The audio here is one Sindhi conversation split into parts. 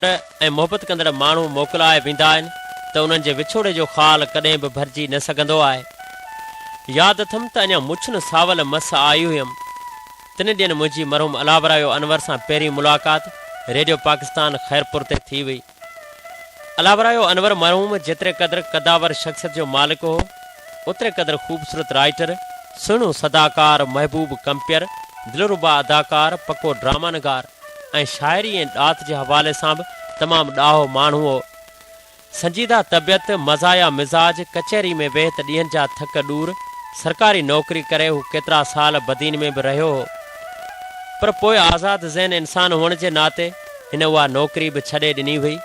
۽ محبت ڪندڙ ماڻهو موڪلائي ويندا آهن ته انهن جي وڇوڙي جو خال ڪڏهن به ڀرجي نه سگهندو آهي. ياد اٿم ته اڃا مڇن ساول مس آئي هيم. تن ڏينهن منهنجي مرحوم الاورايو انور سان پهرين ملاقات ريڊيو پاڪستان خيرپور تي ٿي هئي. الاورايو انور مرحوم جيتري قدر قدآور شخصيت جو مالڪ هو، اوتري قدر خوبصورت رائيٽر، سهڻو صداڪار، محبوب ڪمپيئر، دلربا اداڪار، پڪو ڊراما نگار. ۽ شاعري ۽ ڏات جي حوالي سان به تمام ڏاهو ماڻهو هو. سنجيده طبيعت، مزاحيه مزاج، ڪچهري ۾ ويهه ته ڏينهن جا ٿڪ ڏور، سرڪاري نوڪري ڪري هو ڪيترا سال بدين ۾ به رهيو هو. پر پوء آزاد ذهن انسان هئڻ جي ناتي هن اها نوڪري به ڇڏي ڏني هئي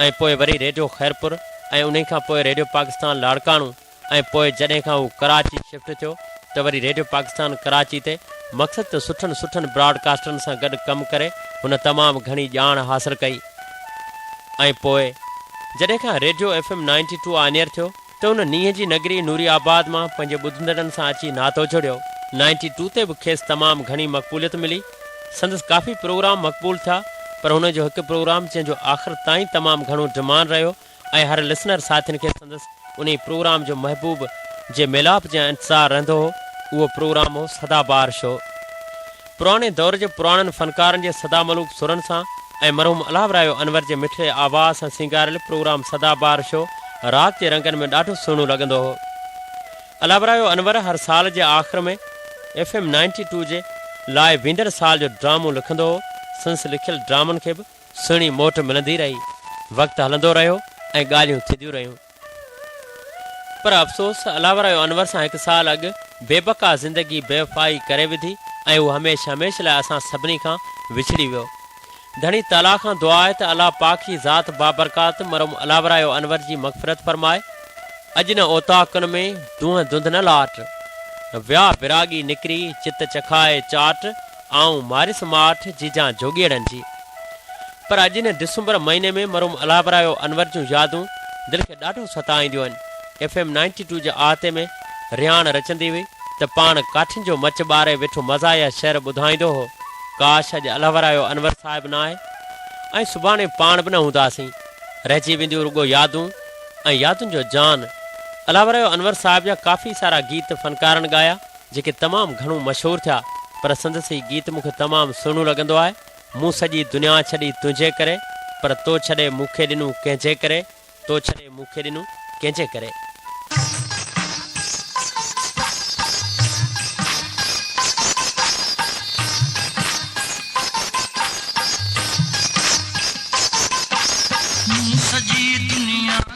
۽ پوء وري ريڊيو خيرپور ۽ انهي کان پوء ريڊيو پاڪستان لاڙڪاڻو، ۽ پوء جڏهن کان هو ڪراچي شفٽ ٿيو ته وري ريڊيو پاڪستان ڪراچي تي مقصد ته سٺن سٺن براڊڪاسٽرن سان گڏ ڪم ڪري هن تمام گهڻي ڄاڻ حاصل ڪئي ۽ پوء جڏهن کان radio F M ninety two on air ٿيو ته هن نينهن جي نگري نوري آباد مان پنهنجي ٻڌندڙن سان اچي ناتو جڙيو. نائنٽي ٽو تي به کيس تمام گهڻي مقبوليت ملي، سندس ڪافي پروگرام مقبول ٿيا پر هن جو هڪ پروگرام جنهن جو آخر تائين تمام گهڻو ڊمانڊ رهيو ۽ هر لسنر ساٿين کي سندس انهي پروگرام جو محبوب جي ميلاپ جي انتظار رهندو هو اهو پروگرام هو سدا بهار شو پراڻي دور جي پراڻن فنڪارن جي سدا ملوڪ سرن سان ۽ مرحوم الاهو رايو انور جي مٺڙي آواز سان سينگاريل پروگرام سدا بهار شو رات جي رنگن ۾ ڏاڍو سهڻو لڳندو هو الاهو رايو انور هر سال جي آخر ۾ ايف ايم نائنٽي ٽو جي لاء ويندڙ سال جو ڊرامو لکندو هو سندس لکيل ڊرامن کي به سهڻي موٽ ملندي رهي، وقت هلندو رهيو ۽ ڳالهيون ٿينديون رهيون. پر افسوس الاورايو انور سان هڪ سال اڳ بي بقا زندگي بيوفائي ڪري وڌي ۽ هو هميشھ هميشھ لاء اسان سڀني کان وڇڙي ويو. ڌڻي تعاليٰ کان دعا آهي ته الله پاڪ جي ذات بابرڪات مرحوم الاورايو انور جي مغفرت فرمائي. اڄ نه اوطاقن ۾ دونهن دنڌ نه لاٽ. ويا وراڳي نڪري چت چکائي چاٽ. آئون ماريس ماٺ جيجان جوڳيئڙن جي. پر اڄ هن ڊسمبر مهيني ۾ مرحوم الهابرايو انور جون يادون دل کي ڏاڍو ستائينديون آهن. ايف ايم نائنٽي ٽو جي آهتي ۾ رهاڻ رچندي هئي ته پاڻ ڪاٺين جو مچ ٻاري ويٺو مزاحيه شعر ٻڌائيندو هو، ڪاش اڄ الهابرايو انور صاحب نه آهي ۽ سڀاڻي پاڻ به نه هونداسين. رهجي وينديون رڳو يادون ۽ يادن جو جان. الهابرايو انور صاحب جا ڪافي سارا گيت فنڪارن ڳايا. جيڪي تمام گهڻو مشهور ٿيا پر سندس هي گيت مون کي تمام سهڻو لڳندو آهي مون سڄي دنيا ڇڏي تنهنجي ڪري پر تو ڇڏي مون کي ڏنو ڪنهن جي ڪري تو ڇڏي مون کي ڏنو ڪنهن جي ڪري. مون سڄي دنيا.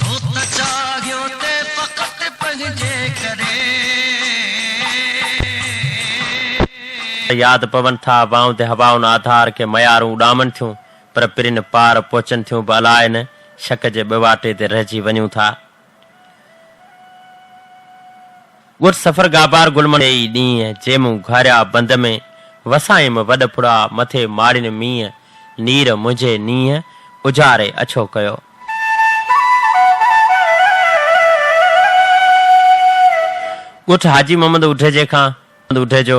تو ته چاهيو ته فقط پنهنجي ڪري. ته ياد پون ٿا وائون تي هوائن آڌار کي ميارون اڏامن ٿيون پر پرين پار پهچن ٿيون به الاء نه شڪ جي ٻواٽي تي رهجي وڃون ٿا. ڳوٺ سفرگاهپار گلمڻ جي ئي ڏينهن جي مون گهاريا بند ۾ وسايم وڏ ڦڙا مٿي ماڙين مينهن نير منهنجي نينهن اجاري اڇو ڪيو. ڳوٺ حاجي محمد اوڍيجي کان محمد اوڍيجو،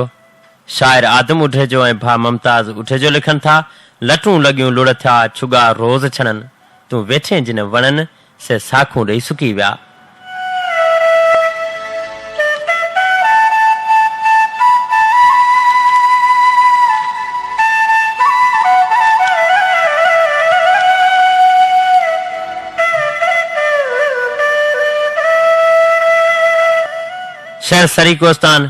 شاعر آدم اوڍيجو ۽ ڀاء ممتاز اوڍيجو لکن ٿا، لٽون لڳيون لڙ ٿيا ڇڳا روز ڇڻن، تون ويٺين جن وڻن، سي ساکون ڏئي سڪي ويا. شهر سريڪوستان،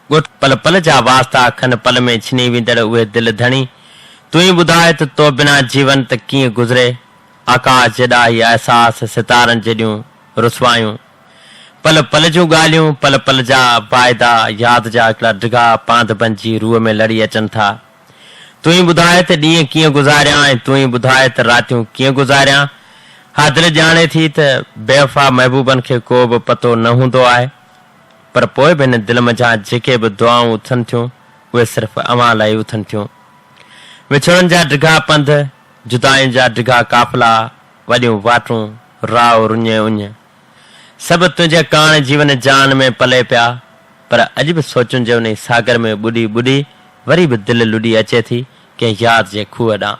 ڳوٺ پل پل جا واسطا کن پل ۾ ڇني ويندڙ اهي دل ڌڻي، تون ئي ٻڌاء ته تو بنا جيون ته ڪيئن گذري؟ آڪاش جيڏا هي احساس ستارن جيڏيون رسوايون پل پل جون ڳالهيون پل پل جا واعدا ياد جا هڪڙا ڊگها پانڌ بنجي روح ۾ لڙي اچن ٿا تون ئي ٻڌاء ته ڏينهن ڪيئن گذاريان ۽ تون ئي ٻڌاء ته راتيون ڪيئن گذاريان ها دل ڄاڻي ٿي ته بيوفا محبوبن کي ڪو به پتو نه هوندو آهي پر پوء به هن دل منجهان جيڪي به دعائون اٿن ٿيون اهي صرف اوهان لاء ئي اٿن ٿيون وڇوڙن جا ڊگها پنڌ جدائين جا ڊگها قافلا، وڏيون واٽون، راء رڃ اڃ، سڀ تنهنجي ڪاڻ جيون جان ۾ پلي پيا، پر اڄ به سوچن جي انهي ساگر ۾ ٻڏي ٻڏي وري به دل لڏي اچي ٿي ڪنهن ياد جي کوهه ڏانهن.